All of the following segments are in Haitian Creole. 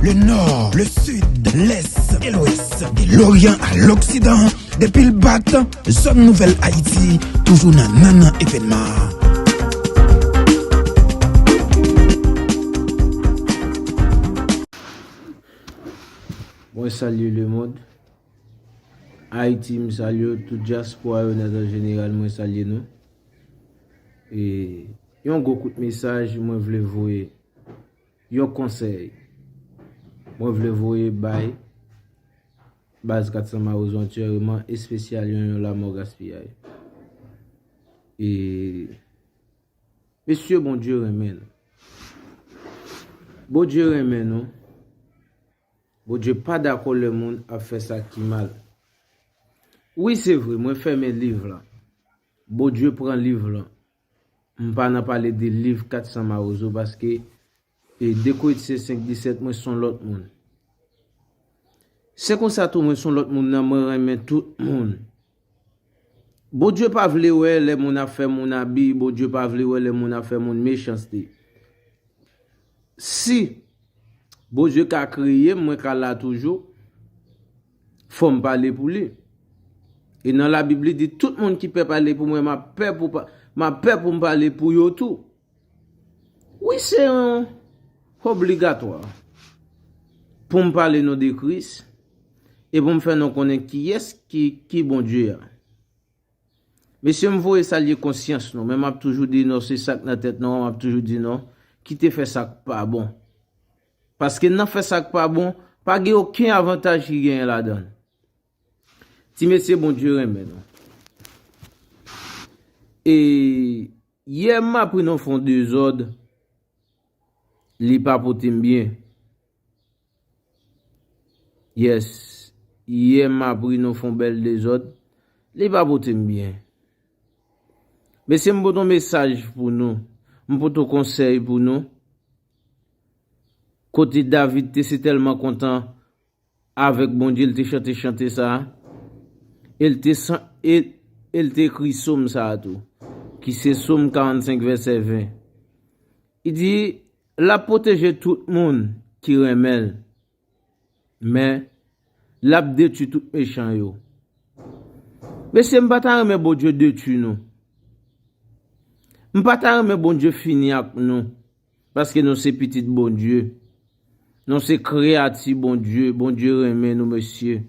Le nò, le sid, lès, e lwès De loryan a loksidan Depi l bat, zòn nouvèl Ayiti Toujou nan nannan evènman Mwen salye lemond Ayiti m salye w Tout dyaspora yo nan zòn jeneral mwen salye nou E yon gwo kout mesaj mwen vle voye Yon konsèy Mwen vle voye bay Baz 400 Mawozo an tyèreman espesyal yon yon lamò gaspiyay e Mesye Bondye renmen nou Bondye renmen nou Bondye pa dakò lè moun ap fè sa ki mal Wi se vre mwen fèmen liv lan Bondye pran liv lan. M pa nan pale de liv 400 mawozo paske e de koetisye 5 disèt mwen son lòt moun. Se konsa tou mwen son lòt moun nan mwen renmen tout moun. Bondye pa vle wè lè moun ap fè moun abi, Bondye pa vle wè lè moun ap fè moun mechanste. Si Bondye ka kreye m mwen ka la toujou. Fò m pale pou li. E nan Labib li di tout moun ki pè pale pou mwen m ap pè pou m ap pè pou m pale pou yo tou. Wi se yon obligatwa pou m pale non de Kris e pou m fè nou konnen kiyès ki Bondye a. Mesye m voye salye konsyans nou men m ap toujou di nou se sa k nan tèt nou an m ap toujou di nou kite fè sa k pa bon. Paske nan fè sak pa bon, pa gen oken avantaj ki genyen ladanl. Ti mesye Bondye renmen nou. E yè m apri nan fon dezòd li pa pote m byen. Yes, yè m apri nan fon bèl dezòd li pa pote m byen. Mesye m pote yon mesaj pou nou, m pote yon konsèy pou nou. Kote David te si tèlman kontan avèk Bondye l te chante chante sa a? E l te san e e l te ekri som sa a tou, ki se Som 45 vèsè 20. I di, L ap pwoteje tout moun ki renmen l. Men, l ap detui tout mechan yo. Mesye, m pa ta renmen Bondye detui nou. M pa ta renmen Bondye fini ak nou, paske nou se pitit Bondye. Nou se kreyati Bondye, Bondye renmen nou mesye.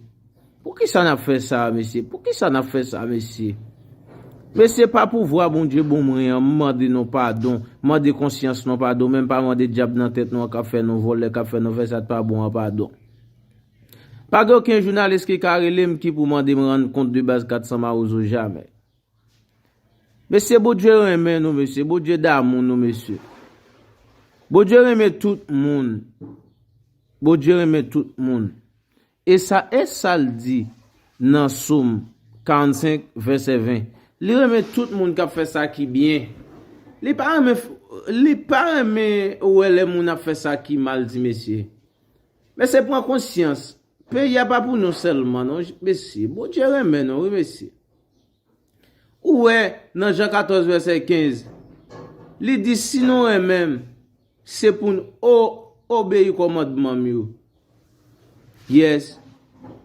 Poukisa nap fè sa a mesye poukisa nap fè sa a mesye mesye pa pouvwa bondye bon mwen an m mande nou padon m mande konsyans nou padon men m pa mande dyab nan tèt nou an kap fè nou vòlè kap fè nou fè sa t pa bon an padon pa gen oken jounalis ki ka rele m ki pou mande m rann kont de baz 400 mawozo jamè mesye bondye renmen nou mesye bondye damou nou mesye bondye renmen tout moun bondye renmen tout moun E sa e sa l di nan Som 45, vèsè 20, Li renmen tout moun k ap fè sa ki byen. Li pa renmen Li pa renmen wè lè moun ap fè sa ki mal ti mesye. Mesye pran konsyans, peyi a pa pou nou sèlman non mesye. Bondye renmen nou wi mesye. Ou wè, nan Jan 14 vèsè 15, li di, Si nou renmen m, se pou n o, obeyi kòmandman m yo. Yes.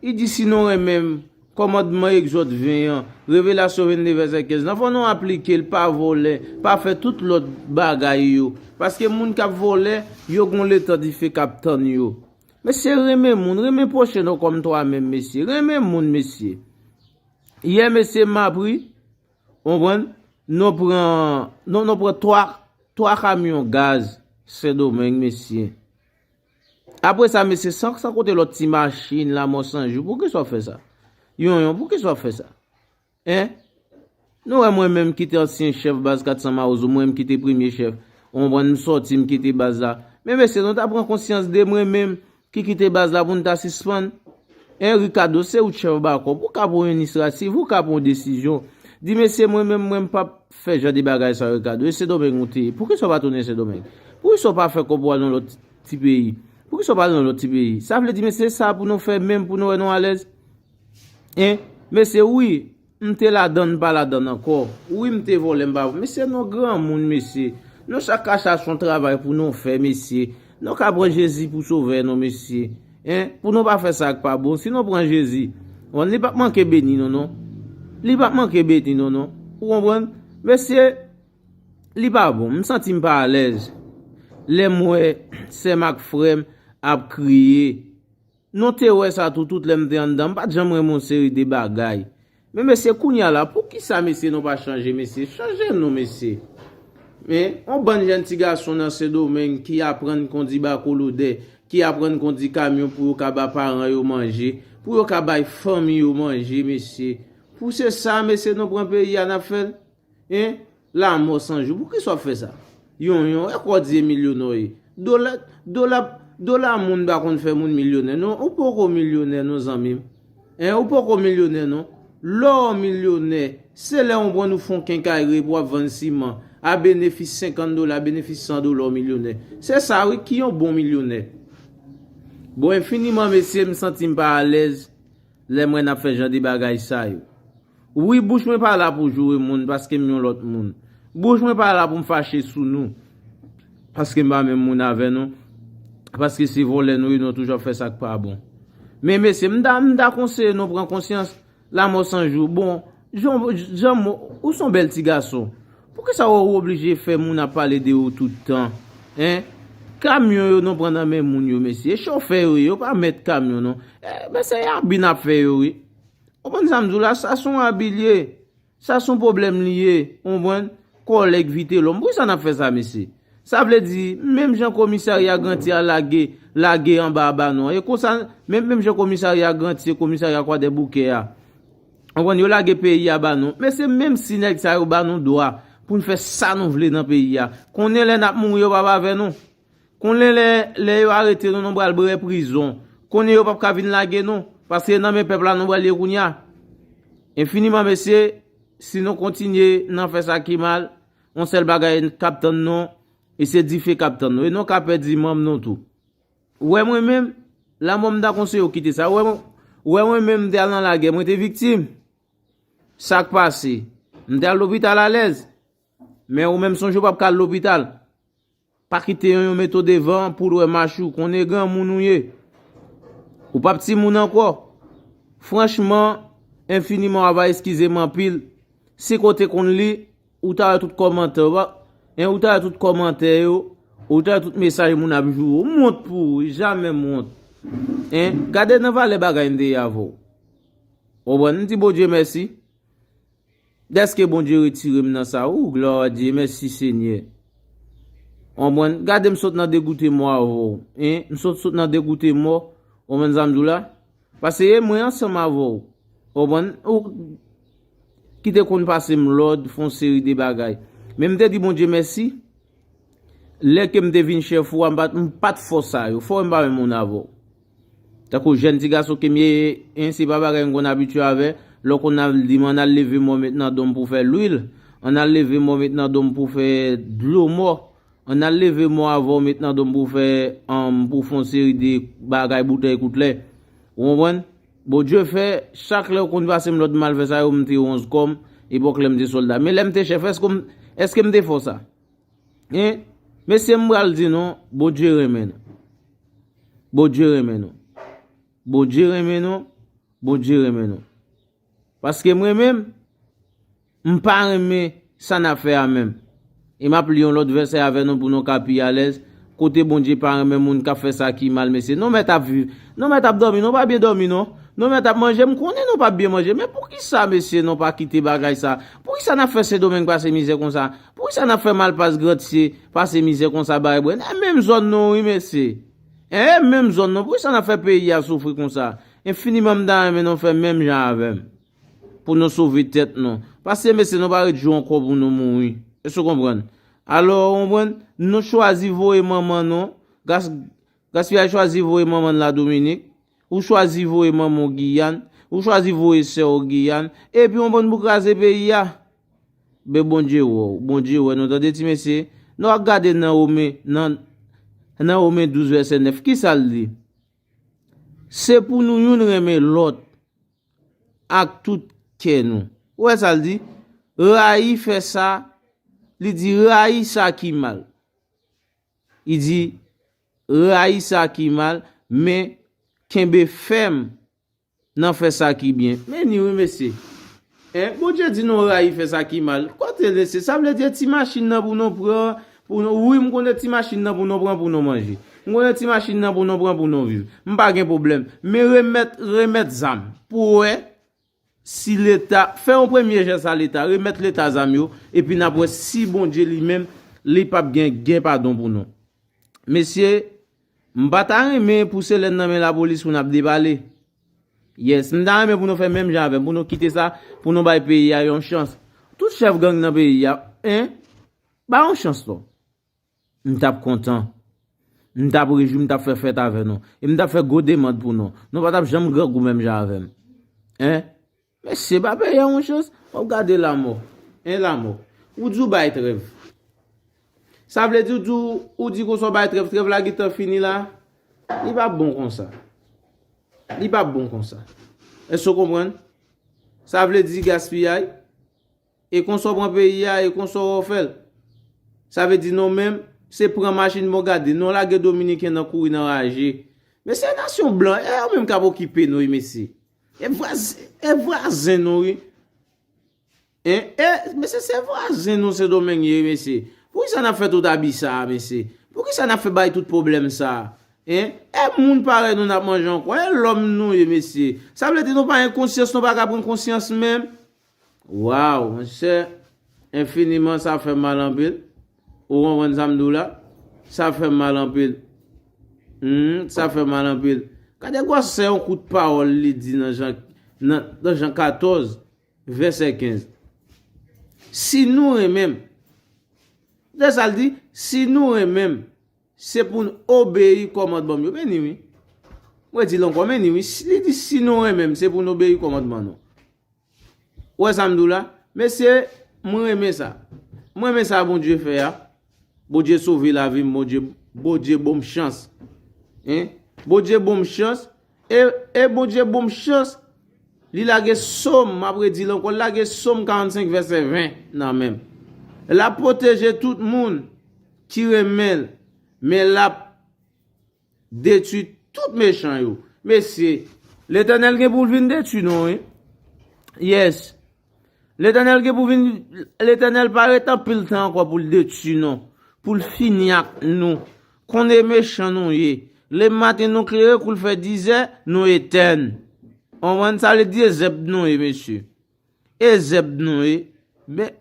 Li di, Si nou renmen m, kòmandman Egzòd 20 an, Revelasyon 22 vèsè 15 lan, fò nou aplike l, pa vòlè, pa fè tout lòt bagay yo. Paske moun k ap vòlè, yo gen yon letan dife k ap tann yo. Men se renmen moun, renmen pwochen w kòm twa menm, mesye. Renmen moun, mesye. Yè mesye m ap ri. Ou konprann? Nou pran, non nou pran 3, 3 kamyon gaz sendomeng mesye. Apre sa mesye san san kote lòt ti machin la mò sanjou pou kisa w fè sa? Yon yon pou kisa w fè sa? Hein? Nou wè mwen menm ki te ansyen chèf baz 400 mawozo mwen ki te premye chèf. Ou konprann m sòti m kite baz la. Men mesye nou ta pran konsyans de mwen menm. Ki kite baz la pou n ta sispann? Eh Ricardo se ou chèf bakòp ou ka pran yon inisrativ ou ka pran yon desizyon di mesye mwen menm mwen m pap fè jan de bagay sa Ricardo e sendomeng ou te ye poukisa ou pa tounen sendomeng poukisa ou pa fè kòb ou al nan lòt ti peyi poukisa ou pa al nan lòt ti peyi sa vle di mesye sa pou nou fè menm pou nou wè nou alèz eh mesye wi M te ladann m pa ladann ankò. Wi m te vòlè m pa vòlè. Mesye nou granmoun mesye. Nou chak ka chache yon travay pou nou fè mesye. Nou ka pran Jezi pou sovè nou mesye. Hein pou nou pa fè sa k pa bon. Si nou pran Jezi bon li pap manke beni nou non. Li pap manke beni nou non. Ou konprann? Mesye li pa bon. M santi m pa alèz lè m wè sè m ak frè m ap kriye. Nou te wè sa tou tout lè m te anndan m pat janm renmen yon seri de bagay men mesye kounya la poukisa mesye nou pa chanje mesye chanje nou mesye men yon bann jèn ti gason nan sendomeng ki aprann kondi bakolodè ki aprann kondi kamyon pou yo ka ba paran yo manje pou yo ka bay fanmi yo manje mesye pou se sa mesye nou pran peyi a nap fèl. Hein lamò san jou poukisa wap fè sa yon yon e kò di e milyonè w ye dola dola dola moun pa konn fè moun milyonè non ou poko milyonè non zanmi m hein ou poko milyonè non lè w milyonè se lè yon pran ou fon kenkayri epi wap vann siman a benefis 50 dola a benefis 100 dola w milyonè se sa wi ki yon bon milyonè bon enfiniman mesye m santi m pa alèz. Lèm wè nap fè jan de bagay sa yo wi bouch mwen pa la pou joure moun paskem yon lòt moun bouch mwen pa la poum fache sou nou paskem pa menm moun avè nou paske se vòlè nou ye nou toujou ap fè sak pa bon men mesye m ta m ta konseye nou pran konsyans lamò san jou bon Janm, ou son bèl ti gason. Poukisa ou oblije fè moun ap pale de ou tout tan? Hein? Kamyon yo nou pran nan men moun yo mesye. E chofè yo ye, yo pa mèt kamyon non. Men se abi n ap fè yo wi. Ou konprann sa m di w la? Sa son abi l ye. Sa son pwoblèm li ye. Ou konprann? Kòlèg Vitelòm. Poukisa n ap fè sa mesye? Sa vle di, menm jan komisarya Granti a lage, lage anba abanon an. E konsa, menm jan komisarya Granti se komisarya Kwadèboukè a. Ou konprann, yo lage peyi a ba nou. Men se menm si nèg sa yo ba nou dwa pou n fè sa nou vle nan peyi a. Konnen lè n ap mouri yo p ap avè nou. Konnen lè yo arete nou nou pral bre prizon. Konnen yo p ap ka vin lage nou. Paske e nan men pèp la nou pral ye kounye a. Enfiniman mesye, si nou kontinye nan fè sa ki mal, yon sèl bagay k ap tann nou, e se dife k ap tann nou. E nou ka pèdi manm nou tou. Ou wè mwen menm, lanmò m ta konseye w kite sa. Ou wè mwen menm m te al nan lagè, mwen te viktim. Sa k pase? M te al lopital alèz. Men ou menm sonje w pap ka al lopital. Pa kite yon yon mete w devan pou lwe mach ou. Konnen granmoun ou ye. Ou pap timoun ankò. Franchman, enfiniman ava eskize m anpil. Si ke w te konn li. Ou ta wè tout kòmantè ou pa hein ou ta wè tout kòmantè yo ou ta wè tout mesaj moun ap joure ou mwont pou ou wi jamè mwont hein gade nan valè bagay m te ye avè w konprann m di Bondye mèsi dèske Bondye retire m nan sa ooh gloire a Dieu mèsi senyè konprann gade m sot nan degoute mò avè w hein m sot nan degoute mò konprann sa m di w la Pase mwen ansanm avè w. Ou konprann? Ou ki te konn pase m lòd, fè yon seri de bagay. Men m te di Bondye mèsi, lè ke m te vin chèf ou a, m pa t fò sa yo. Fò wè m pa menm moun avè w. Tankou jèn ti gason ke m ye, en, se pa bagay m konn abitye avè, lè w konn al di m an al leve mò met nan do m pou fè lwil, an al leve mò met nan do m pou fè dlo mò. An al leve mò avanw met nan dom pou fè humm pou fon seri de bagay boutèy kout lè ou konprann Bondye fè chak lèw konn pasem lòd mal fè sa yo mte wonz kòm epòk lèm te sòlda men lèm te chèf èskem èskem te fò sa hein mesye mpral di nou Bondye renmen nou Bondye renmen nou Bondye renmen nou Bondye renmen nou. Paske mwen menm, m pa renmen sa n ap fè a menm. E m ap li yon lòt vèsè avè nou pou nou ka pi alèz, Kote Bondye pa renmen moun k ap fè sa ki mal mesye. Nou mèt ap viv, nou mèt ap dòmi, nou pa byen dòmi non. Nou mèt ap manje, m konnen nou pa byen manje. Men poukisa mesye nou pa kite bagay sa? Poukisa n ap fè Sendomeng pase mizè konsa? Poukisa n ap fè Malpas Grandsye pase mizè konsa Barebre? Nan menm zòn nou wi mesye. Eeh menm zòn non poukisa nap fè peyi a soufri konsa enfiniman m ta renmen nou fè menm jan avèm pou nou sove tèt nou paske mesye nou pa ret jou ankò pou nou mouri èske w konprann alò ou konprann nou chwazi voye manman nou gaspillage chwazi voye manman l la Dominique Ou chwazi voye manman w Giyàn, ou chwazi voye sè w Giyàn, epi on bon pou kraze peyi a. Ben Bondye wè w, Bondye wè nou tande ti mesye, nou ak gade Naome nan Naome 12 vèsè 9 kisa l di? Se pou nou youn renmen lòt ak tout kè nou. Ou wè sa l di? Rayi fè sa, li di rayi sa ki mal. Li di. Rayi sa ki mal, men kenbe fèm nan fè sa ki byen. Men ni wi mesye. Eh Bondye di nou rayi fè sa ki mal. Kote l mesye? Sa vle di e ti machin nan pou nou pran pou nou wi m konnen ti machin nan pou nou pran pou nou manje. M konnen ti machin nan pou nou pran pou nou viv. M pa gen pwoblèm. Men remèt remèt zam pou wè Si leta, fè yon premye jès a leta, remèt leta zam yo, epi nap wè si Bondye li menm li pap gen gen padon pou nou. Mesye, m pa ta renmen pou se lè n nan men lapolis pou nap depale. Yes, m ta renmen pou nou fè menm jan avè m, pou nou kite sa, pou nou bay peyi a yon chans. Tout chèf gang nan peyi a, en, ba yon chans non. M t ap kontan. M t ap rejwi, m t ap fè fèt avè nou. E m t ap fè gwo demand pou nou. Nou pa t ap janm grangou menm jan avè m. Hein? Mesye, ba pè ya yon chans. W ap gade lanmò. Hein lanmò? Ou di w bay trèv. Sa vle di w di ou di konsa w bay trèv. Trèv la gentan fini la. Li pa bon konsa. Li pa bon konsa. Èske w konprann? Sa vle di gaspiyay. E konsa w pran peyi a e konsa w fè l. Sa vle di nou menm, se pran machin bon gade. Nou lage dominiken nan kouri nan raje. Men se nasyon blan, e yo menm k ap okipe nou wi mesye. E vwazen nou wi. E mesye se vwazen nou sendomeng ye wi mesye. Pou kisa n ap fè tout abi sa a mesye. Pou kisa n ap fè bay tout pwoblèm sa a. E moun parèy nou n ap manje ankò. E lòm nou ye mesye. Sa vle di nou pa gen konsyans nou pa ka pran konsyans menm. Waww monchè enfiniman sa fèm mal anpil ou konprann sam diw la sa fèm mal anpil humm sa fèm mal anpil gade gwòsè yon kout pawòl li di nan jan nan jan 14 vèsè 15 si nou renmenm gade sal di si nou renmenm Se pou n obeyi kòmandman m yo. Men ni wi. M redi l ankò, men ni wi. Li di si nou renmen m, se pou n obeyi kòmandman nou. Ou wè sa m di w la? Mesye, m renmen sa. M renmen sa Bondye fè a. Bondye sove lavi m. Bondye bon m chans. Bondye bon m chans. E Bondye bonm chans li lage som map redi l ankò li lage som 45 vèsè 20 nan men m lap pwoteje tout moun ki renmen l men lap detwi tout mechan yo mesye. Letènèl gen pou l vin detwi nou wi yes. Letènèl gen pou vin Letènèl pa ret anpil tan ankò pou l detui nou pou l fini ak nou konnen mechan nou ye le maten nou klere kou l fè dizè nou etèn konprann sa vle di e zèb nou ye mesye e zèb nou ye men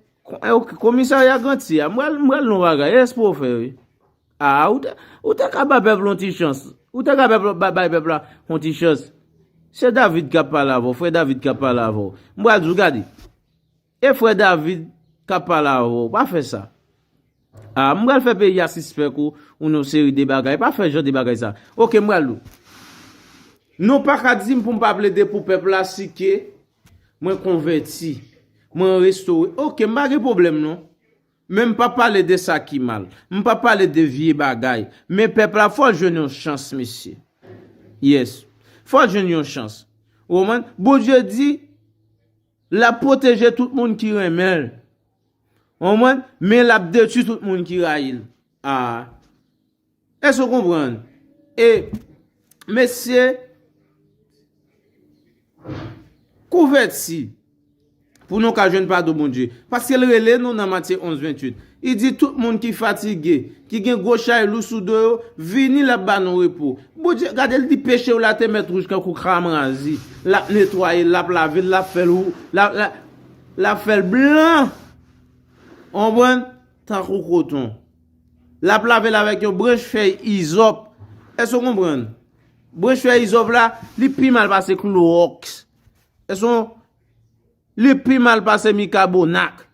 komisarya grantye a m pral m pral nou bagay e s pou w fè wi. Aa ou ta ka bay pèp la yon ti chans. Ou ta ka bay pèp la yon ti chans. Se David kap pale avè w. Frè David kap pale avè w. M pral di w gade. E frè David kap pale avè w. Pa fè sa. Aa m pral fè peyi a sispèk ou yon seri de bagay. Pa fè jan de bagay sa. Ok m pral di w. Nou pa ka di m pou m pa plede pou pèp la si ke mwen konvèti. Mwen restore. Ok m pa gen pwoblèm non. Men m pa pale de sa ki mal. M pa pale de vye bagay. Men pèp la fò l jwenn yon chans mesye. Yes. Fò l jwenn yon chans. Ou konprann? Bondye di l ap pwoteje tout moun ki renmen l. Ou konprann? Men l ap detwi tout moun ki rayi l. Aa. Èske ou konprann? E, mesye, kouvèti pou nou ka jwenn padon Bondye. Paske l rele nou nan Matye 11, 28. Li di, Tout moun ki fatige, ki gen gwo chay lou sou do yo, vini, l ap ba nou repo. Bondye, gade l di, peche w la te mèt wouj tankou kran razi. L ap netwaye l, l ap lave l, l ap fè l, l ap fè l blan, ou konprann, tankou koton. Lap lavel avèk yon branch fèy izòp. Èske w konprann? Branch fèy izòp la, li pi mal pase klowòks. Èske w. Li pi mal pase mikabonak.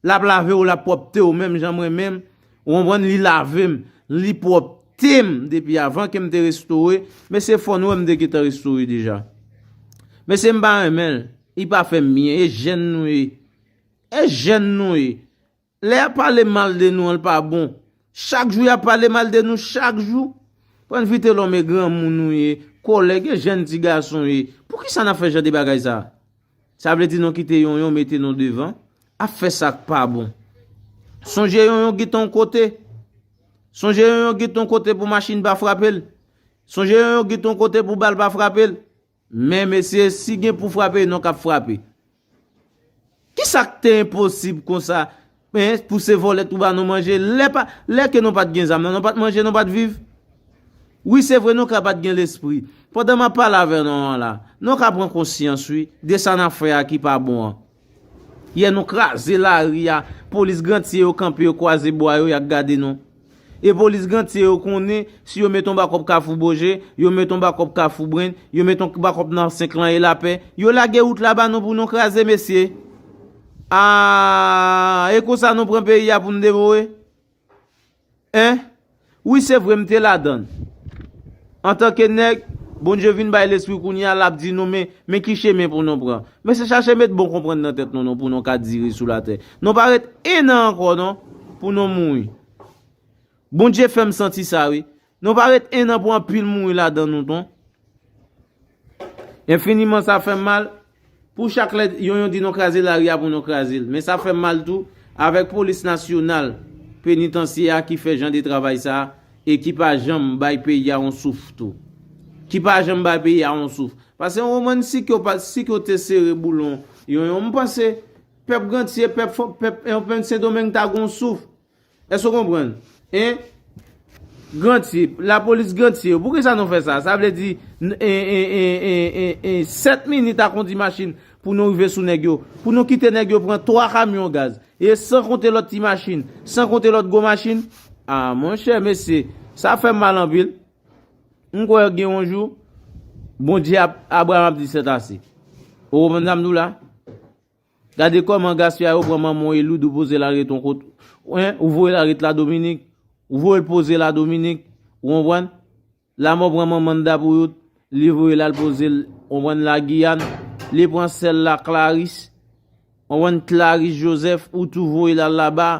Lap lave w, lap pwòpte w menm jan mwen menm. Ou konprann? Li lave m. Li pwòpte m depi avan ke m te restore. Mesye fò nou wè m te gentan restore deja. Mesye m pa renmen l. Li pa fè m byen. E jèn nou ye. E jèn nou ye. Lè yap pale mal de nou an l pa bon. Chak jou yap pale mal de nou chak jou. Pran vitelome granmoun ou ye, kòlèg e jèn ti gason ye. Poukisa nap fè jan de bagay sa? Sa vle di nou kite yonyon mete nou devan ap fè sak pa bon. Sonje yonyon gin ton kote. Sonje yonyon gin ton kote pou machin pa frape l. Sonje yonyon gin ton kote pou bal pa frape l. Men mesye si gen pou frape non kap frape. Kisak te enposib konsa pou se vole tou ba nou manje lè ke nou pat gen zam nan nou pat manje nou pat viv. Wi se vre nou ka pat gen lespri. Pandan map pale avè nou an la nou ka pran konsyans wi de sa nap fè a ki pa bon an. Yè nou kraze lari a, polis grantye yo kanpe yo kwaze bwa yo yak gade nou. E polis grantye yo konnen si yo met on bakop kafou boje, yo met on bakop kafou brenn, yo met on bakop nan 5 lan e lapè, yo lage wout la ba nou pou nou kraze mesye. Aah e konsa nou pran peyi a pou nou devore? Hein wi se vre m te ladann antanke nèg Bondye vin bay lespri kounye a lap di nou men ki chemen pou nou pran mesye chache met bon konprann nan tèt nou non pou nou ka dire sou latè nou pa ret 1 an ankò non pou nou mouri Bondye fèm santi sa wi Nou pa ret 1 an pou anpil mouri ladan nou non. Enfiniman sa fèm mal, pou chak lè yon yon di nou kraze lari a pou nou kraze l. Men sa fèm mal tou, avèk polis nasyonal, penitansye a ki fè jan de travay sa, e ki pa janm bay peyi a on souf tou. Ki pa janm bay peyi a on souf. Pase on moman si ke w pa, si ke w te sere boulon yon yon, m panse, pèp Gantye, pèp, pèp, pèp Sendomeng ta gon souf. Èske w konprann? Hein? Granti, lapolis granti yo, poukisa nou fè sa? Sa vle di, en 7 minit a kondi machin pou nou rive sou nèg yo, pou nou kite nèg yo pran 3 kamyon gaz, e san konte lòt ti machin, san konte lòt gwo machin? A, monchè, mesye, sa fè m mal anpil. M kwè gen yon jou, Bondye ap, Abraram ap di sètase. Ou konprann sa m di w la? Gade kòman gaspillay ou pran manmanw Eloud ou poze la ret yon kot hein ou voye la ret la Dominique ou voyel poze la Dominique ou konprann lamò pran manman nda pou out li voye lal pozel ou konprann la Guyane li pran sèl la Clarice ou konprann Clarice Joseph ou tou voye lal laba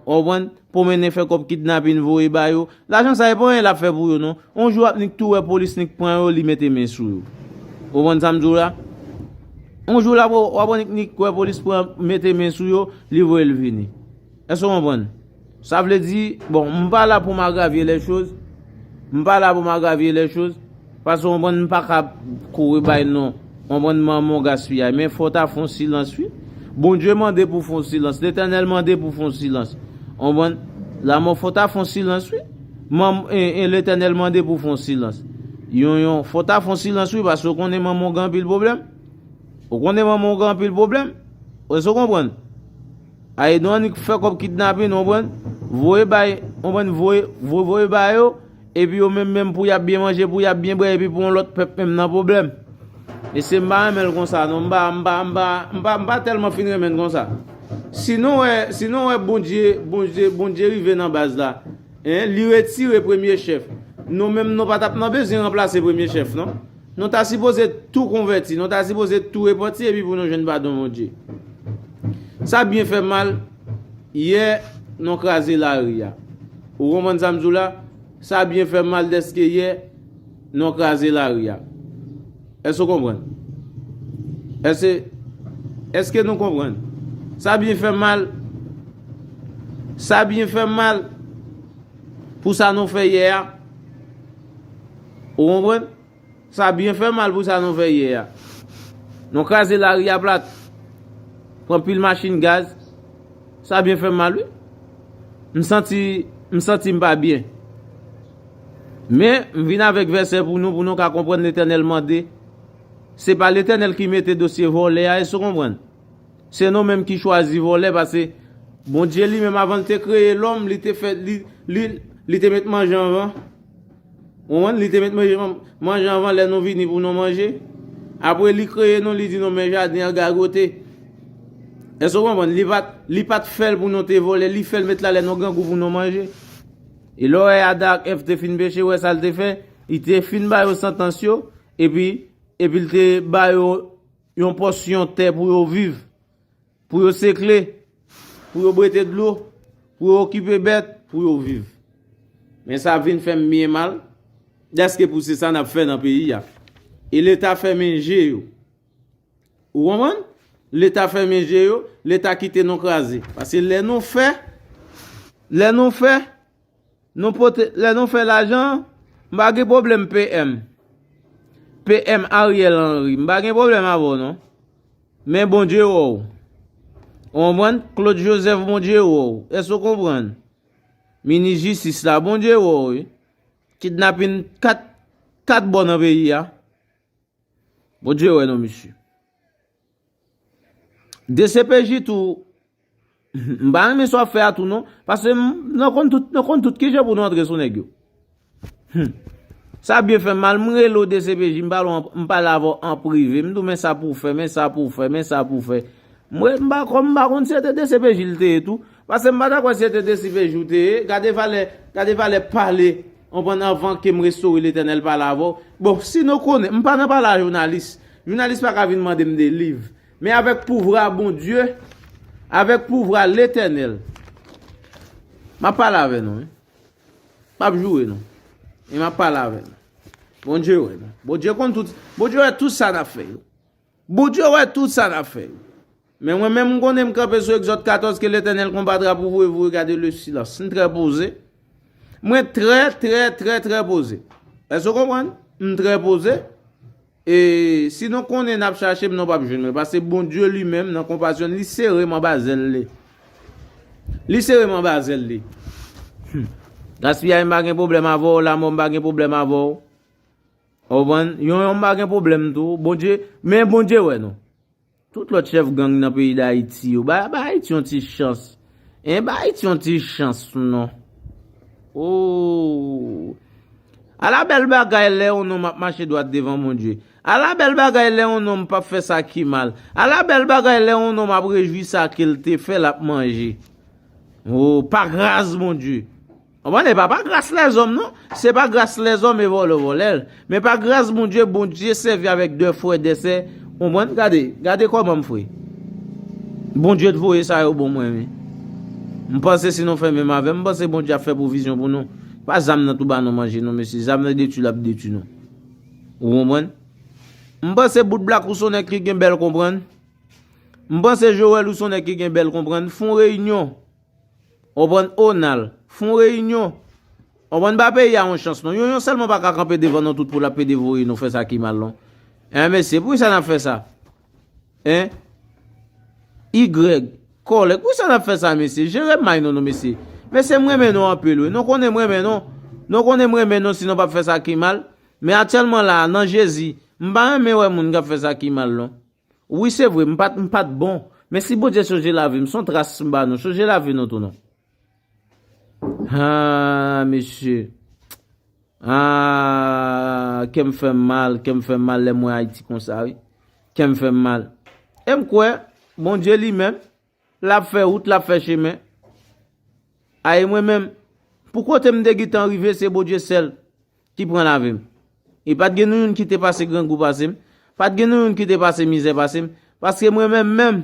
ou konprann. Pwomennen fè kòb kidnapin voye ba yo. Lajan sa e pa anyen lap fè pou yo non. On jou ap nik tou wè polis nik pran yo li mete men sou yo. Ou konprann sa m di w la? On jou lap wè wap wè nik nik wè polis pran mete men sou yo li voye l vini. Èske w konprann? Sa vle di, bon m pa la pou m agravye lè choz. M pa la pou m agravye lè choz. Pase w konprann m paka ap kouri bay non w konprann m an mon gaspiyay men fò w ta fon silans wi Bondye mande pou w fon silans letènèl mande pou w fon silans w konprann lamò fò w ta fon silans wi man en letènèl mande pou w fon silans yon yon fò w ta fon silans wi pase w konnen manman w gen anpil pwoblèm w konnen manman w gen anpil pwoblèm èske w konprann a edon annik fè kòb kidnapin w konprann voye bay w konprann voye voye bay yo. Epi yo menm menm pou yap byen manje pou yap byen bwè epi pou yon lòt pèp menm nan pwoblèm. Mesye m pa renmenl konsa non m pa m pa m pa m pa m pa tèlman fin renmenn konsa. Si nou wè si nou wè Bondye Bondye Bondye rive nan baz la hein li retire premye chèf nou menm nou pa tap nan bezyen ranplase premye chèf non. Nou ta sipoze tou konvèti nou ta sipoze tou repanti epi pou nou jwenn padon Bondye. Sa byen fè mal. Yè non kraze lari a. Ou konprann sa m di w la? Sa byen fè mal dèske yè non kraze lari a. Èske ou konprann? Èske, èske nou konprann? Sa byen fè mal, sa byen fè mal pou sa nou fè yè a. Ou konprann? Sa byen fè mal pou sa nou fè yè a. Nou kraze lari a plat. Pran pil machin gaz. Sa byen fè mal wi. M santi, m santi m pa byen. Men, m vin avèk vèsè pou nou pou nou ka konprann Letènèl mande. Se pa Letènèl ki mete dosye vòlè a èske w konprann? Se nou menm ki chwazi vòlè pase Bondye li menm avan l te kreye lòm li te fè li li te met manje anvan. Konprann, li te met manje manje anvan lè nou vini pou nou manje. Apre li kreye nou, li di nou men jaden an gagote. Èske ou konprann? Li pat li pat fè l pou nou te vòlè, li fè l met la lè nou grangou pou nou manje. E lè w wè Adan ak Èv te fin peche, ou wè sa l te fè? Li te fin ba yo santans yo, epi epi l te ba yo yon pòsyon tè pou yo viv. Pou yo sekle, pou yo bwete dlo, pou yo okipe bèt, pou yo viv. Men sa vin fè m byen mal, dèske pou se sa n ap fè nan peyi a. E Leta fèmen je yo. Ou konprann? Leta fèmen je yo, Leta kite nou kraze. Pase lè nou fè, lè nou fè, Nou pote lè nou fè lajan m pa gen pwoblèm PM. PM Ariel Henry m pa gen pwoblèm avè w non. Men bon Dye wè w. Ou konprann? Claude Joseph bon Dye wè w. Èske ou konprann? Minis jistis la bon Dye wè w wi. Kidnapin 4 bò nan peyi a. Bon Dye wè nou mesye. Dcpj tou m pa renmen sa wap fè a tou non paske nou konn tout nou konn tout kijan pou nou antre sou nèg yo humm sa byen fèm mal m rele w dcpj m pale w m pale avè w an prive m di w men sa pou w fè men sa pou w fè men sa pou w fè m wè m pa konn m pa konn si se te dcpj l te ye tou paske m pa ta kwè si se te dcpj ou te ye gade valè gade valè pale Konprann anvan ke m restore Letènèl pale avè w. Bon, si nou konnen, m pa nan pale a jounalis. Jounalis pa ka vin mande m de liv. Men avèk pouvra Bondye, avèk pouvra Letènèl, m ap pale avè nou wi. M ap joure nou. E m ap pale avè nou. Bondye wè nou. Bondye konn tout, Bondye wè tout sa n ap fè yo. Bondye wè tout sa nap fè yo. Men mwen menm m konnen m kanpe sou Exode 14 ke Letènèl konbatra pou vou e vou regade le silans. M trè poze. Mwen trè trè trè trè poze. Èske w konprann? M trè poze. E si nou konnen nap chache m nou pap jwenn mwen. Paske Bondye li menm nan konpasyon l li sere m anba zèl li. Li sere m anba zèl li. Gaspiyay m pa gen pwoblèm avè w, lanmò m pa gen pwoblèm avè w. Ou konprann? Yon yon pa gen pwoblèm tou. Bondye, men Bondye wè nou. Tout lòt chèf gang nan peyi Dayiti yo, ba Ayiti yon ti chans. Hein, ba Ayiti yon ti chans non. Ooh! Ala bèl bagay lè yon nonm ap mache dwat devan Bondye. Ala bèl bagay lè yon nonm pap fè sa ki mal. Ala bèl bagay lè yon nonm ap rejwi sa ke l te fè l ap manje. Ooh, pa gras Bondye! Konprann epa pa gras lèzòm non se pa gras lèzòm e vòlè ou vòlèl men pa gras Bondye Bondye sèvi avèk de frè de sè konprann gade gade kòmanm fre Bondye t voye sa yo bon mwen wi m panse si nou fè menm avèm m panse Bondye ap fè pwovizyon pou nou pa zam nan tou ba nou manje non mesye zam nan detui lap detui nou ou konprann m panse bout blak ou son nèg ki gen bèl konprann m panse Joel ou son nèg ki gen bèl konprann fon reyinyon. Konprann oh nal fon reyinyon. Konprann ba peyi a yon chans non yon yon selman paka kanpe devan nou tout pou lap pede voye nou fè sa ki mal non eh mesye poukisa nap fè sa eh Y kòlèg poukisa nap fè sa mesye jere may nou nou mesye mesye m renmen nou anpil wi nou konnen m renmen nou nou konnen m renmen nou si nou pap fè sa ki mal men atyèlman la nan jezi m pa renmen wè moun kap fè sa ki mal non. Wi se vre m pat m pat bon men si Bondye sonje lavi m son tras m ba nou sonje lavi nou tou non haa mesye haa kèm fèm mal kèm fèm mal lèm wè Haïti konsa wi kèm fèm mal em kwè Bondye li menm Lap fè wout, lap fè chemen. A e mwen menm, pou kote m te gitan rive se Bodye sèl ki pran lavi m. E pat gen nou youn ki te pase grangou pase m, pat gen nou youn ki te pase mizè pase m, paske mwen menm menm,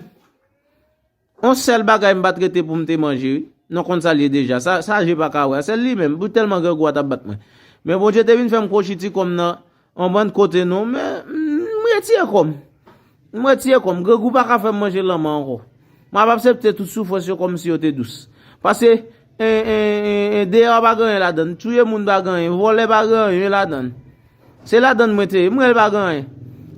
on sèl bagay m pat rete pou m te manje wi, non konn sa l ye deja, sa je pa ka wè a, se li menm, pou tèlman grangou a tap bat mwen. Men Bondye te vin fè m kwochi ti kò m nan, On bann kote non men m retire kò m. M retire kò m. Grangou pa ka fè m manje lanman ankò. M ap apsepte tout soufrans yo kòmsi yo te dous. Pase deyò a pa gen anyen ladan l. Touye moun pa gen anyen. Vòlè pa gen anyen ladan l. Se ladan l mwen te ye. M rele pa gen anyen.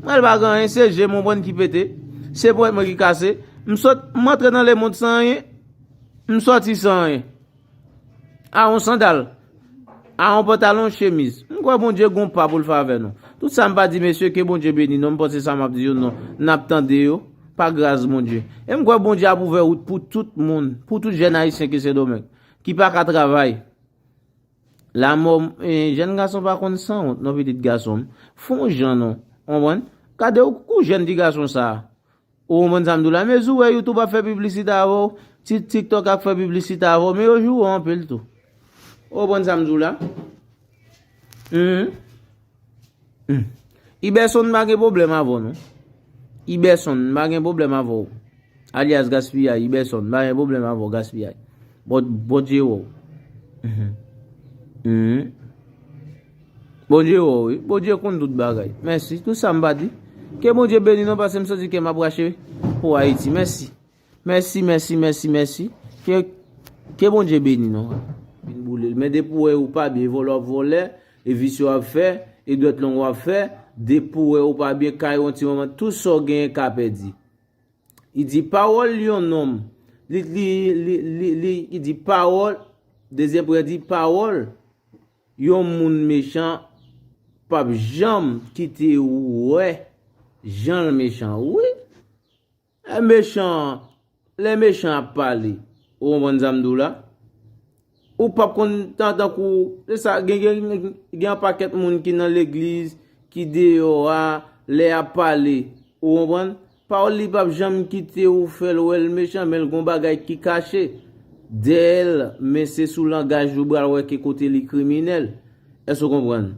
M rele pa gen anyen. Se je m on bann ki pete. Se ponyèt mwen ki kase. M sot, m antre nan lemond san anyen. M soti san anyen. A yon sandal. A yon pantalon chemiz. M kwè Bondye gon pa pou l fè avè nou. Tout sa m pa di mesye ke Bondye beni nou. M panse sa map di yo non. Nap tande yo. Pa gras Bondye. E m kwè Bondye ap ouvè wout pou tout moun. Pou tout jèn ayisyen ke sendomeng. Ki pa ka travay. La mò m. Jèn gason pa konn san wont non pitit gason m. Fon jan non. Ou konprann. Kade w kou jèn ti gason sa. Ou konprann sa m di w la? Mezi w wè YouTube ap fè piblisite avè w, TikTok ap fè piblisite avè w, men yo joure w anpil tou. Ou konprann sa m di w la? Hum. Iberson m pa gen pwoblèm avè w non. Iberson m pa gen pwoblèm avè w. Alyas Gaspiyay, Iberson m pa gen pwoblèm avè w Gaspiyay. Bon Dye wè w. Hum. Bondye wè w wi. Bondye konn tout bagay. Mèsi. Tout sa m pa di. Ke Bondye beni nou pase m santi kè m ap rache pou Ayiti. Mèsi. Mèsi, mèsi, mèsi, mèsi. Ke Ke Bondye beni nou. Vin boule l. Men depi w wè ou pa byen, vòlè w ap vòlè, e visye w ap fè, e dwèt long w ap fè, depi w wè ou pa byen, kay ou an ti manman, tout sa w genyen ka pèdi. Li di pawòl yon nonm, li, li, li, li, li, li di pawòl, dezyèm priyè di pawòl Yon moun mechan pap janm kite ou wè janl mechan wi lè mechan lè mechan ap pale ou konprann sam diw la ou pap konn tan tankou se sa gen gen anpakèt moun ki nan legliz ki deyò a lè yap pale ou konprann Pawòl li pap janm kite ou fèl wèl mechan menl gon bagay ki kache dèyèl men se sou langaj li ou pral wè ki kote li kriminèl èske ou konprann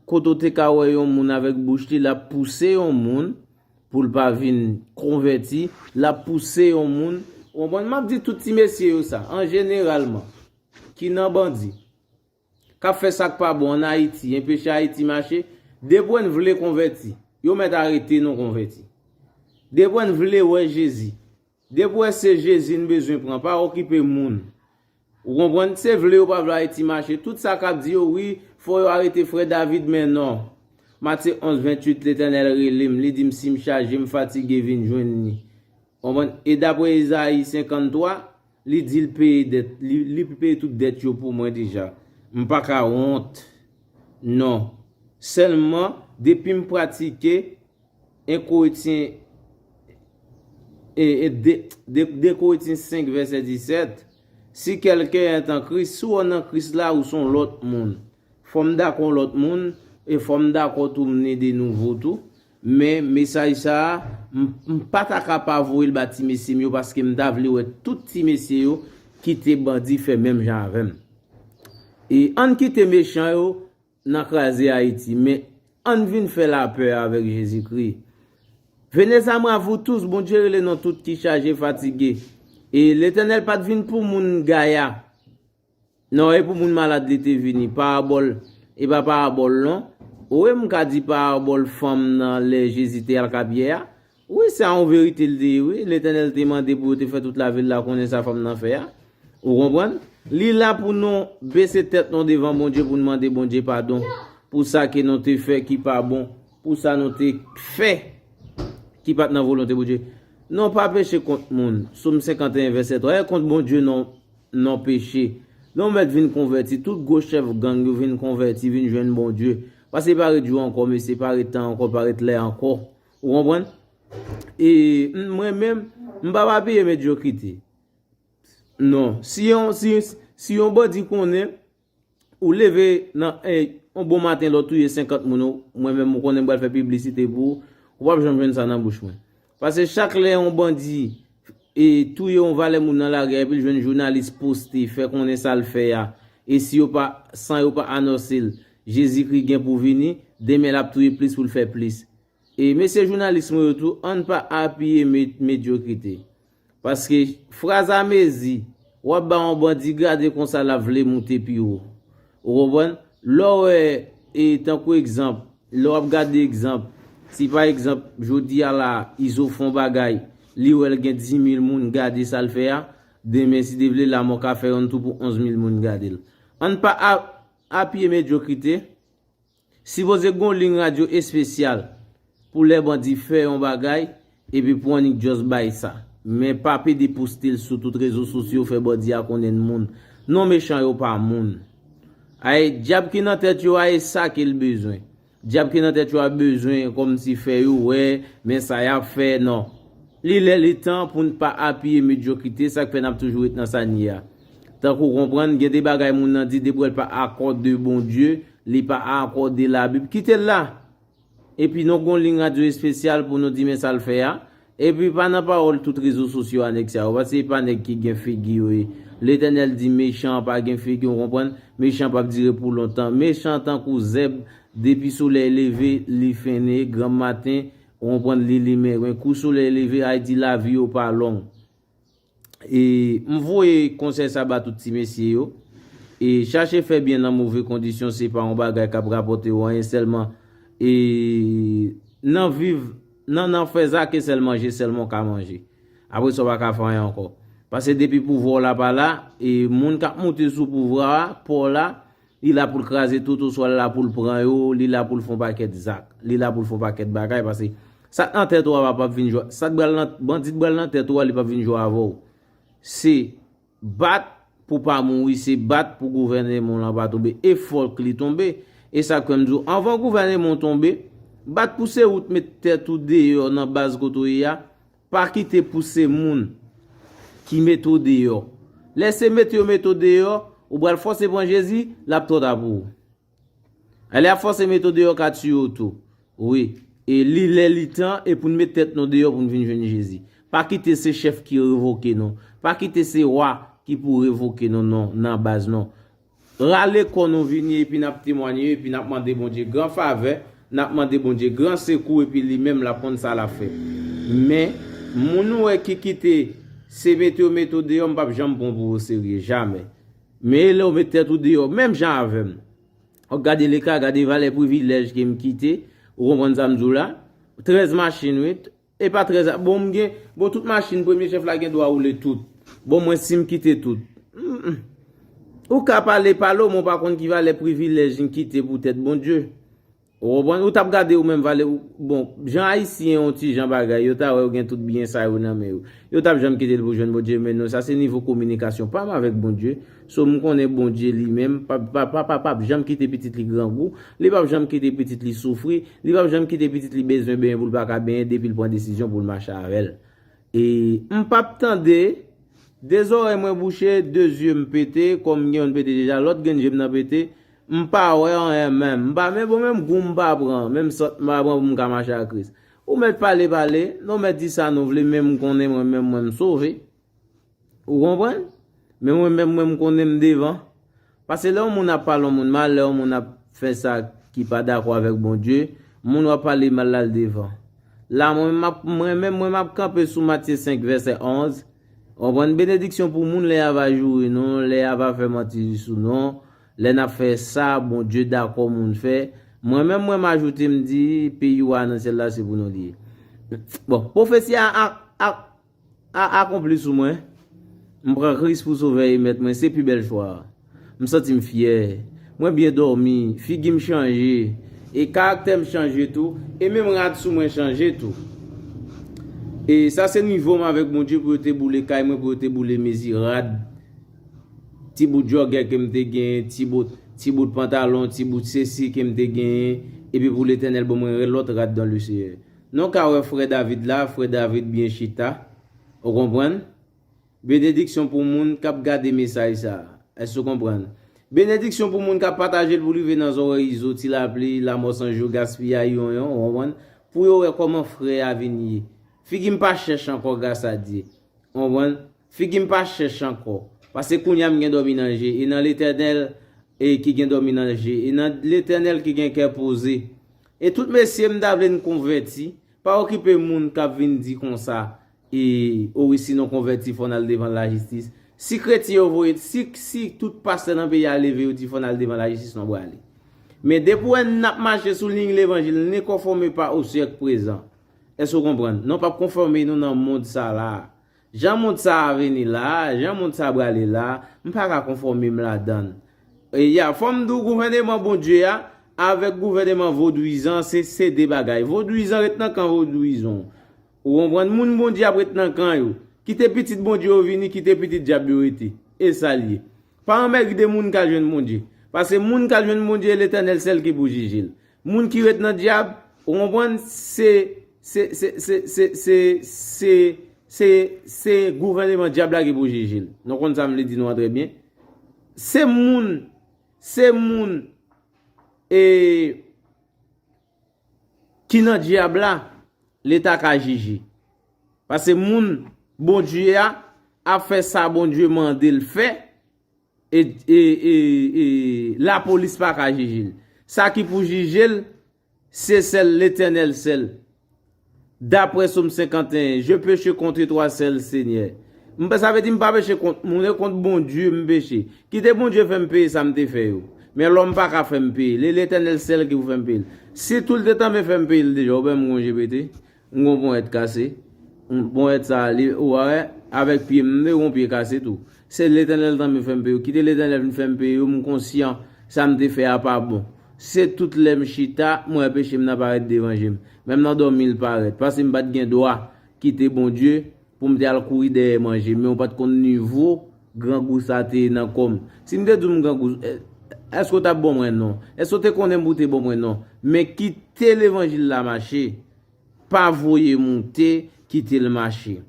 kote ou te ka wè yon moun avèk bouch li lap pouse yon moun poul pa vin konvèti lap pouse yon moun ou konprann map di tout ti mesye yo sa an jeneralman ki nan bandi. Kap fè sak pa bon an ayiti enpeche ayiti mache depwen vle konvèti yo mèt arete nou konvèti depwen vle wè jezi depwen se jezi n bezwen pran pa okipe moun ou konprann se vle yo pa vle ayiti mache tout sa kap di yo wi fò yo arete frè david men non matye 11 28 letènèl relem li dim sim chaje m fatige vin jwenn li konprann e dapre ezayi 53. Li di l peye dèt li peye tout dèt yo pou mwen deja m pa ka wont non sèlman depi m pratike enkoetyen dekoetyen 5 vèsè 17 si kèlken èt an kris si w nan kris la ou son lòt moun fò m dakò lòt moun e fò m dakò tou m ne de nouvo tou Men mesaj sa a, m pa ta ka pa voye l ba ti mesye m yo paske m ta vle wè tout ti mesye yo kite bandi fè menm jan avè m. E ann kite mechan yo nan kraze Ayiti, men ann vin fè lapè avèk Jezikri. Venez à moi vous tous, Bondye rele non tout ki chaje fatige. E Letènèl pa t vin pou moun gaya, Non epou moun malad li te vini parabòl epa parabòl non wi m ka di parabòl fanm nan lè Jezi te al kapyè a wi sa yon verite li te ye wi Letènèl te mande pou yo te fè tout lavil la konnen sa fanm nan fè a ou konprann li la pou nou bese tèt nou devan Bondye pou nou mande Bondye padon pou sa ke nou te fè ki pa bon pou sa nou te fè ki pat nan volonte Bondye nou pa peche kont moun Somme 51 vèsè 3 e kont Bondye non. non peche. Lè yon mèt vin konvèti, tout gwo chèf gang yo vin konvèti, vin jwenn Bondye. Pase pa ret jou ankò mesye, pa ret tan ankò, pa ret lè ankò. Ou konprann? E, m, mwen menm, m pap apiye medyokrite. Non. Si yon, si, si yon bandi konnen. Ou leve nan yon bon maten lè w touye 50 moun mwen menm ou konnen m pral fè piblisite pou ou, ou pap janm jwenn sa nan bouch mwen. Pase chak lè yon bandi e touye yon valè moun nan lari a epi l jwenn jounalis poste fè konnen sa l fè a e si yo pa san yo pa anòse l Jezikri gen pou vini demen l ap touye plis pou l fè plis. E mesye jounalis mwen yo tou ann pa apiye medyokrite. Paske fraz a mezi. W ap ba yon bandi grade konsa l ap vle moute pi wo. Ou konprann? Lè w wè e tankou egzanp, lè w ap gade egzanp, si pa egzanp jodi a la a Izo fè yon bagay, li wè l gen dimil moun gade sa l fè a, demen si Dye vle lamò ka fè yonn tou pou onzmil moun gade l. Ann pa apiye medyokrite, Sipoze gon ligne radio espesyal pou lè bandi fè yon bagay epi pou annik just bay sa men pa pede poste l sou tout rezo sosyo fè bandi a konnen n moun non mechan yo pa moun ae dyab ki nan tèt yo a e sa ke l bezwen dyab ki nan tèt yo a bezwen kòmsi fè yo wè men sa yap fè non li lè li tan pou n pa apiye medyokrite sak fè nap toujou ret nan sa n ye a tankou konprann gen de bagay moun nan di depi wè l pa akò de Bondye Li pa akòde labib. Kite l la! Epi non gon lign radyo espesyal pou nou di men sa l fè a. Epi pa nan pawòl tout rezo sosyo a nèg sa yo pase e pa nèg ki gen figi yo ye. Letènèl di mechan an pa gen figi ou konprann? Mechan pap dire pou lontan. Mechan tankou zèb depi solèy leve li fennen e granm maten ou konprann li limen men kou solèy leve Ayiti lavi yo pa long. E m voye konsèy sa ba tout ti mesye yo. E chache fè byen nan move kondisyon se pa yon bagay k ap rapòte ou anyen sèlman. E nan viv, nan nan fè sa ke sèl manje sèlman ou ka manje. Apre sa ou pa ka fè anyen ankò. Pase depi pouvwa w la pa la, e moun k ap moute sou pouvwa a, pa w la, Li la pou l kraze tout oswa li la pou l pran yo, li la pou l fè yon pakèt zak, li la pou l fè yon pakèt bagay paske sa k nan tèt ou a pa p vin jwe, sa k pral nan, bandi k pral nan tèt ou a li pa p vin jwe avè w. Se bat pou w pa mouri, se bat pou gouvèneman w lan pa tonbe e fòk li tonbe. E sa k fè m di w anvan gouvèneman w tonbe, bat pou se ou t met tèt ou deyò nan baz kote w ye a, Pa kite pouse moun ki mete w deyò. Lè se mete yo mete w deyò, ou pral fòse pran Jezi, l ap twò ta pou ou. Lè y ap fòse mete w deyò ka tiye w tou. Wi, e li lè li tan e pou n met tèt nou deyò pou n vin jwenn Jezi. Pa kite se chèf ki revoke nou. Pa kite se wa ki pou revoke nou non nan baz non. Rale kò nou vini epi nap temwanye epi nap mande Bondye gran favè, nap mande Bondye gran sekou epi li menm lap konn sa lap fè. Men, moun ou wè ki kite se mete yo mete w deyò m pap janm pran w pou oserye, jamè. Men e lè w met tèt ou deyò menm jan avè m. Fòk gade leka, gade valè privilèj ke m kite, ou konprann sa m di w la? 13 machin wi, Epa très a bon m gen bon tout machin premye chèf la gen dwa woule tout bon mwen sim kite tout humm ou ka pale pale w men w pa konn ki valè privilèj yn kite pou tèt Bondye ou konprann ou tap gade ou menm valè ou bon jan ayisyen yon ti jan bagay yo ta wè yo gen tout byen sa yo nan men yo yo tap janm kite l pou jwenn Bondye men non sa se nivo kominikasyon pa m avèk Bondye So m konnen Bondye li menm pap janm kite pitit li grangou, li pap janm kite pitit li soufri, li pap janm kite pitit li bezwen benyen pou l pa ka benyen depi l pran desizyon pou l mache avè l. E m pap tande, de zòrèy mwen bouche, de zye m pete, kò m gen youn pete deja, lòt grenn je m nan pete, m pa wè anyen menm, m pa menm bon menm gou m pa pran, menm sant m pa pran pou m ka mache ak Kris. Ou mèt pale pale, nou mèt di sa nou vle men m konnen mwen menm mwen m sove. Ou konprann? Men mwen menm mwen m konnen m devan. Pase lè yon moun ap pale yon moun mal, lè yon moun ap fè sa ki pa dakò avèk Bondye, moun wap pale mal la l devan. La mwen menm map mwen menm mwen map kanpe sou Matye 5 vèsè 11, ou konprann, benediksyon pou moun lè ya va joure nou, lè ya va fè manti sou nou, lè nap fè sa Bondye dakò moun fè, mwen menm mwen m ajoute m di peyi wa nan syèl la se pou nou li ye. Bon, pwofesi a ak ak. A akonpli sou mwen. M pran Kris pou Sovè e Mèt mwen, se pi bèl chwa a. M santi m fyè. Mwen byen dòmi, figi m chanje, e karaktè m chanje tou, e menm rad sou mwen chanje tou. E sa se nivo m avèk Bondye pou yo te boule kay mwen, pou yo te boule mezi rad, ti bout jògè ke m te genyen, ti bout pantalon, ti bout sesi ke m te genyen, epi pou Letènèl ban mwen lòt rad dan Leseyè. Nou ka wè frè David la, frè David byen chita. Ou konprann? Benediksyon pou moun k ap gade mesaj sa a. Èske ou konprann? Benediksyon pou moun k ap pataje l pou l rive nan zòrèy izo, ti lapli, lamò san jou, gaspiyay, yon yon, ou konprann, pou yo wè kòman frè a vin ye. Figi m pa chèch ankò gras a Dye. Ou konprann? Figi m pa chèch ankò. Pase kounye a m gen dòmi nan je e nan Letènèl e ki gen dòmi nan je e nan Letènèl ki gen kè poze. E tout mesye m ta vle n konvèti, pa okipe moun k ap vin di konsa e o wi si nou konvèti fò n al devan lajistis. Si kretyen yo voye, si si tout pastè nan peyi a leve yo di fò n al devan lajistis nou brale. Men depi w wè n ap mache sou liy levanjil ne konfòme pa o syèk prezan. Èske w konprann? Nou p ap konfòme nou nan mond sa la a. Jan mond sa a vini la, jan mond sa a brale la, m pa ka konfòme m ladan l. E ya, fò m di w gouvèneman Bondye a, avèk gouvèneman vodwizan, se se de bagay. Vodwizan ret nan kan vodwizon. Ou konprann? Moun Bondye ap ret nan kan yo. Kite pitit Bondye yo vini, kite pitit dyab yo rete. E sa l ye. Pa anmègde moun k al jwenn Bondye. Pase moun k al jwenn Bondye, Letènèl sèl ki pou jije l. Moun ki ret nan dyab, ou konprann, se, se, se, se, se, se, se, se, se gouvèneman dyab la ki pou jije l. Nou konn sa m vle di nou an trè byen. Se moun, se moun, e, Ki nan dyab la leta ka jije. Pase moun Bondye a ap fè sa Bondye mande l fè e lapolis pa ka jije l. Sa ki pou jije l se sèl Letènèl sèl. Daprè Som 51, Je peche kontre twa sèl, Senyè. M pa, sa vle di m pa peche kont moun, e kont Bondye m peche. Kite Bondye fè m peye sa m te fè yo. Men lòm pa ka fè m peye l. E Letènèl sèl ki pou fè m peye l. Si tou l te tanmen fè m peye l deja, oubyen m gon je pete, m gon ponyèt kase, ponyèt sa a li, ou wè, avèk pye m, m te gon pye kase tou. Se Letènèl tanmen fè m peye yo. Kite Letènèl vin fè m peye yo, m konsyan sa m te fè a pa bon. Se tout lè m chita, m wè peche m nan parèt devan je m. Menm nan dòmi l parèt. Paske m pa t gen dwa kite Bondye pou m te al kouri dèyè manje. Men ou pa t konn nivo grangou sa te ye nan kò m. Si m te di w m grangou, èske w t ap bon mwen? Non. Èske w te konnen m pou w te bon mwen? Non. Men kite levanjil la mache. Pa voye moute, kite l mache.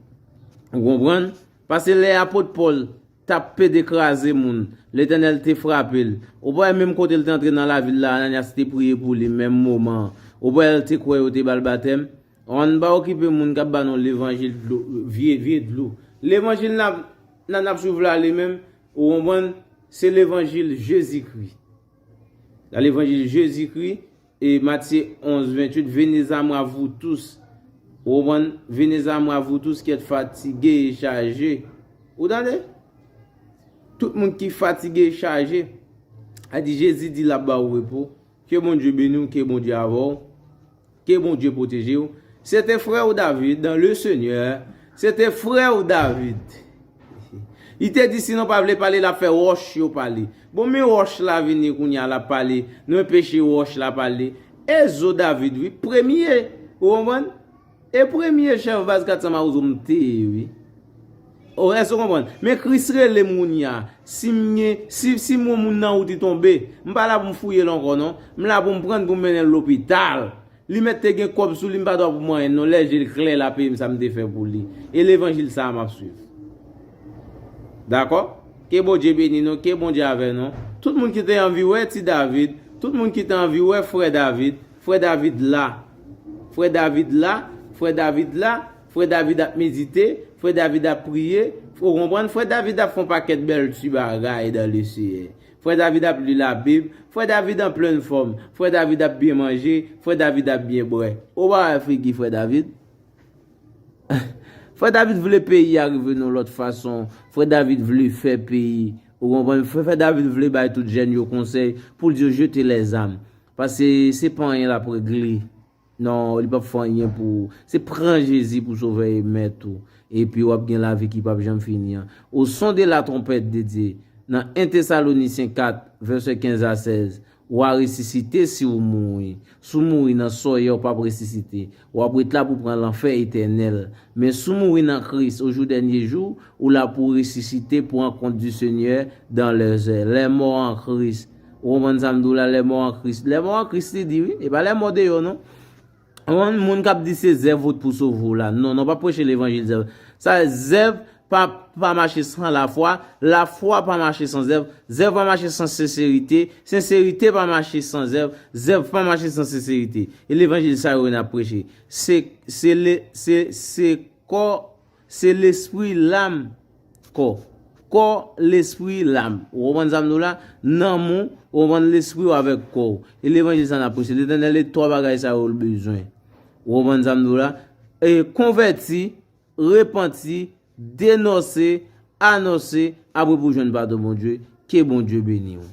Ou konprann? Pase lè apot Pòl t ap pede kraze moun, Letènèl te frape l. Ou pa wè menm kote l te antre nan lavil la Ananyas te priye pou li menm moman an. Ou pa wè l te kwè yo te ba l batèm? An n pa okipe moun k ap ba nou levanjil dlo vye vye dlo. Levanjil n ap nan n ap swiv la li menm, ou konprann, se levanjil Jezikri. Levanjil Jezikri. E Matye 11, 28, Venez a mwa vou tous, ou konprann? Venez a mwa vou tous ki èt fatige e chaje. Ou tande? Tout moun ki fatige e chaje. A di Jezi di lap ba ou repo. Ke Bondye beni ou, ke Bondye avè ou. Ke Bondye pwoteje ou. Se te frè ou David, dan le Senyè, se te frè ou David. Li te di si nou pa vle pale lap fè roch yo pale. Bon men roch la vini kounya lap pale nou enpeche roch la pale e zo David wi premye ou konprann e premye chèf baz 400 mawozo m te ye wi oh èske ou konprann men Chris rele m kounya si m gen si m wè moun nan wouti tonbe m pa la pou m fouye l ankò non m la pou m pran l pou m mennen l lopital Li mèt te gen kòb sou li m pa dwa pou manyen non lè je l klè la peye m sa m te fè pou li e levanjil sa a map swiv dakò ke Bondye beni nou ke Bondye avè nou tout moun ki te anvi wè ti David tout moun ki te anvi wè frè David frè David la frè David la frè David la frè David ap medite frè David ap priye ou konprann frè David ap fon pakèt bèl ti bagay dan le seyè Frè David ap li labib, frè David an plenn fòm, frè David ap byen manje, frè David ap byen bwè. Ou pa wè figi frè David? Frè David vle peyi a rive nan lòt fason, frè David vle fè peyi, ou konprann, frè David vle bay tout jèn yo konsèy pou l di yo jete lèzam. Pase se pa anyen l ap regle. Non li pap fè anyen pou ou. Se pran Jezi pou sovè e mèt ou, epi wap gen lavi ki pap janm fini an. Au son de la trompette de Dieu, nan 1 Thessaloniciens 4, versets 15 à 16, wa resisite si ou mouri. Si w mouri nan sòyè ou pap resisite. Wap ret la pou pran lanfè etènèl. Men si w mouri nan Kris au jour dènye jou, ou la pou w resisite pou ankont du Seigneur dans leurs airs. Les morts en Christ. Ou konprann sa m di w la, lèmò an Kris. Lèmò an Kris li di wi, e pa lèmò deyò non. Ou konprann moun k ap di se zèv ou t pou sove w la. Non, non pa preche levanjil zèv. Sa vle zèv pa pa mache san lafwa, lafwa pa mache san zèv, zèv pa mache san senserite, senserite pa mache san zèv, zèv pa mache san senserite. E levanjil sa yo n ap preche. Se, se le, se, se kò. Se lespri, lam, kò. Kò, lespri, lam. Ou konprann sa m di w la? Nanm ou, ou konprann, lespri ou avèk kò ou. E levanjil sa n ap preche. Letènèl e twa bagay sa yo l bezwen. Ou konprann sa m di w la? E konvèti, repanti, denonse, anonse, apre pou w jwenn padon Bondye. Ke Bondye beni w.